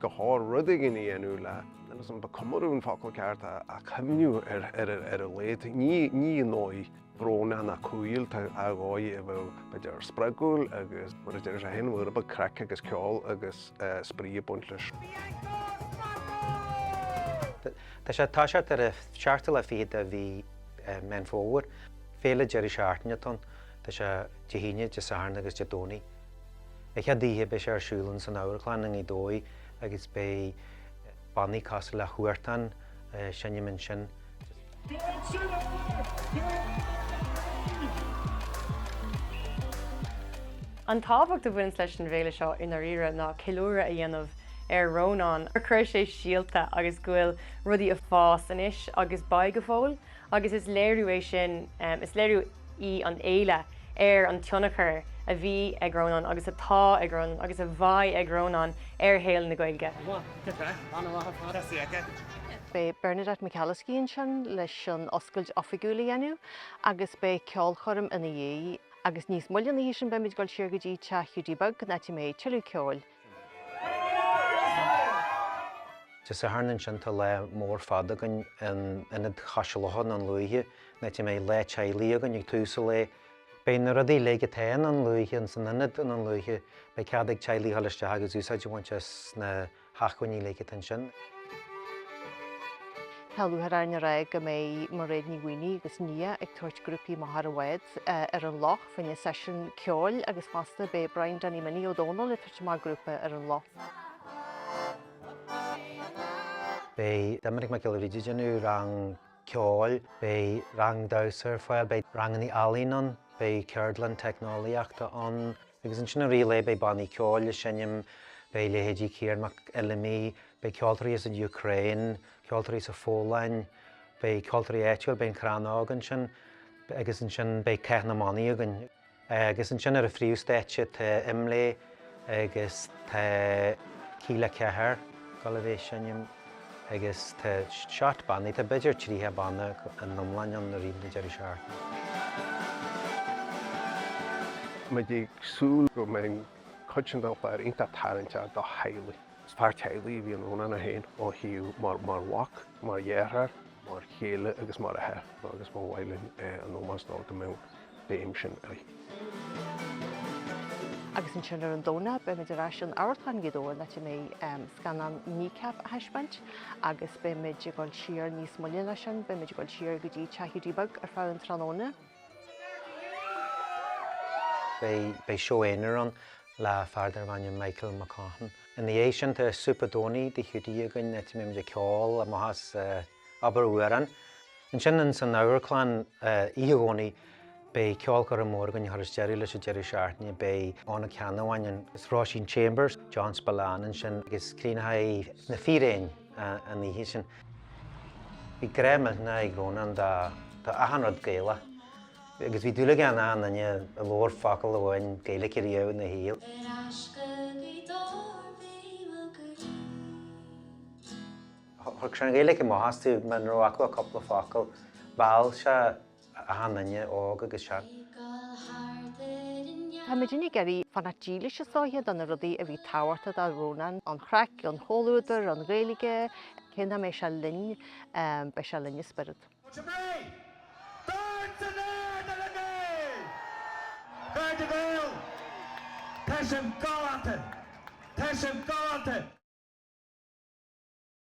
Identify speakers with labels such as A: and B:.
A: go háirithe rud éigin a dhéanamh le. agus an ba comóradh an focal ceart a chuimhniú ar a laghad. Ní i ndóigh bhrónach ná cúíl, dóigh a bheadh b'fhéidir spreagúil agus mar a deir sé féin, nuair a bheadh craic agus ceol agus spraoi ag baint
B: leis. Tá sé ag toiseacht ar an seachtú lá fichead de mhí Mheán Fómhair, féile deiridh seachtaine atá ann, tá sé Dé hAoine, Dé Sathairn agus Dé Domhnaigh. An chéad oíche beidh sé ar siúl ins an Amharclann i nGaoth Dobhair agus beidh bannaí cosúil le Huartan ag seinm ansin.
C: An tábhacht a bhaineann leis an bhféile seo i ndáiríre ná ceiliúradh a dhéanamh ar Rónán, gur chuir sé síolta agus go bhfuil rudaí ag fás anois agus beidh go fóill. Agus is léiriú é sin, is léiriú í an fhéile ar an tionchar a bhí ag Rónán agus atá ag Rónán agus a bheidh ag Rónán ar shaol na Gaeilge.
D: Beidh Bernadette McAliskey ansin leis an oscailt oifigiúil a dhéanamh agus beidh ceolchoirm ina dhiaidh. Agus níos moille ina dhiaidh sin beimid ag dul siar go dtí Teach Hiúdaí Beag, an áit a mbeidh tuilleadh ceoil,
B: Dé Sathairn ansin tá lá mór fada againn in Ionad Cois Locha Dhún Lúiche, áit a mbeidh Lá Teaghlaigh againn ag tús an lae. Beidh na rudaí uilig atá i nDún Lúiche ins an Ionad i nDún Lúiche. Beidh cead ag teaghlaigh dhul isteach agus úsáid a bhaint as na hacmhainní uilig atá
D: ansin. Tá luath ar airne ar aghaidh go mbeidh Mairéad Ní Mhaonaigh agus Nia ag tabhairt grúpaí amach ar bhád ar an loch. fá choinne seisiún ceoil agus fosta beidh Brian Danny Minnie Ó Domhnaill ag tabhairt amach grúpa ar an
B: loch. Beidh Doiminic Mac Giolla Bhríde ag déanamh rang ceoil, beidh rang damhsa ar fáil, beidh ranganna ealaín ann, beidh ceardlann teicneolaíochta ann, agus ansin i rith an lae beidh bannaí ceoil ag seinm, beidh leithéidí Ciarán Mac Fheidhlimidh, beidh ceoltóirí as an Ukraine, ceoltóirí as an Pholainn, beidh ceoltóirí áitiúil, beidh an Crannóg ansin. agus ansin beidh Cath na mBannaí againn. Agus ansin ar an phríomhstáitse tá Imlé agus tá Kíla 4, ag gabháil a bheith ag seinm, agus tá neart bannaí, tá b'fhéidir tríocha banna in iomlán ann i rith an deireadh
A: seachtaine. Muid ag súil go mbeidh an chuid sin den chlár iontach tarraingteach do theaghlaigh. Is fear teaghlaigh a bhí in Rónán é féin ó thaobh mar mhac, mar dheartháir, mar chéile agus mar athair agus ba mhaith linn in ómós dó go mbeadh an bhéim sin uirthi.
D: Agus ansin ar an Domhnach beimid ar ais in Amharclann Ghaoth Dobhair an áit a mbeidh scannán Kneecap á thaispeáint agus beimid ag dul siar níos moille an lá sin, beimid ag dul siar go dtí Teach Hiúdaí Beag ar feadh an tráthnóna.
B: Beidh seó aonair ann le fear darbh ainm Michael McCaughan. Ina dhiaidh sin tá Súp an Domhnaigh i dTigh Hiúdaí againn áit a mbeimid ag ceol amach as Abair Amhrán. Ansin ins an Amharclann, Oíche Dhomhnaigh, beidh ceolchoirm mhór againn a chuireas deireadh leis an deireadh seachtaine. Beidh Eoghan Ó Ceannabháin agus Róisín Chambers, John Spillane ansin agus críochnóidh Na Fíréin an oíche sin. Bhí grá millteanach ag Rónán do achan rud Gaelach agus bhí dúil aige in aon duine a labhair focal amháin Gaeilge riamh ina shaol. Thug sé an Ghaeilge amach astu muna raibh acu ach cúpla focal. Mheall sé achan duine, óg agus
D: sean. Táimid uilig ag iarraidh fanacht dílis, is dóiche, do na rudaí a bhí tábhachtach do Rónán, an chraic, an chomhluadar, an Ghaeilge, cé nach mbeidh sé linn, beidh sé linn i spiorad. Fáilte Mhé! Dúirt an Éire le
E: Gaeil! Gaeilge Gael! Tá sin galánta! Tá sin galánta!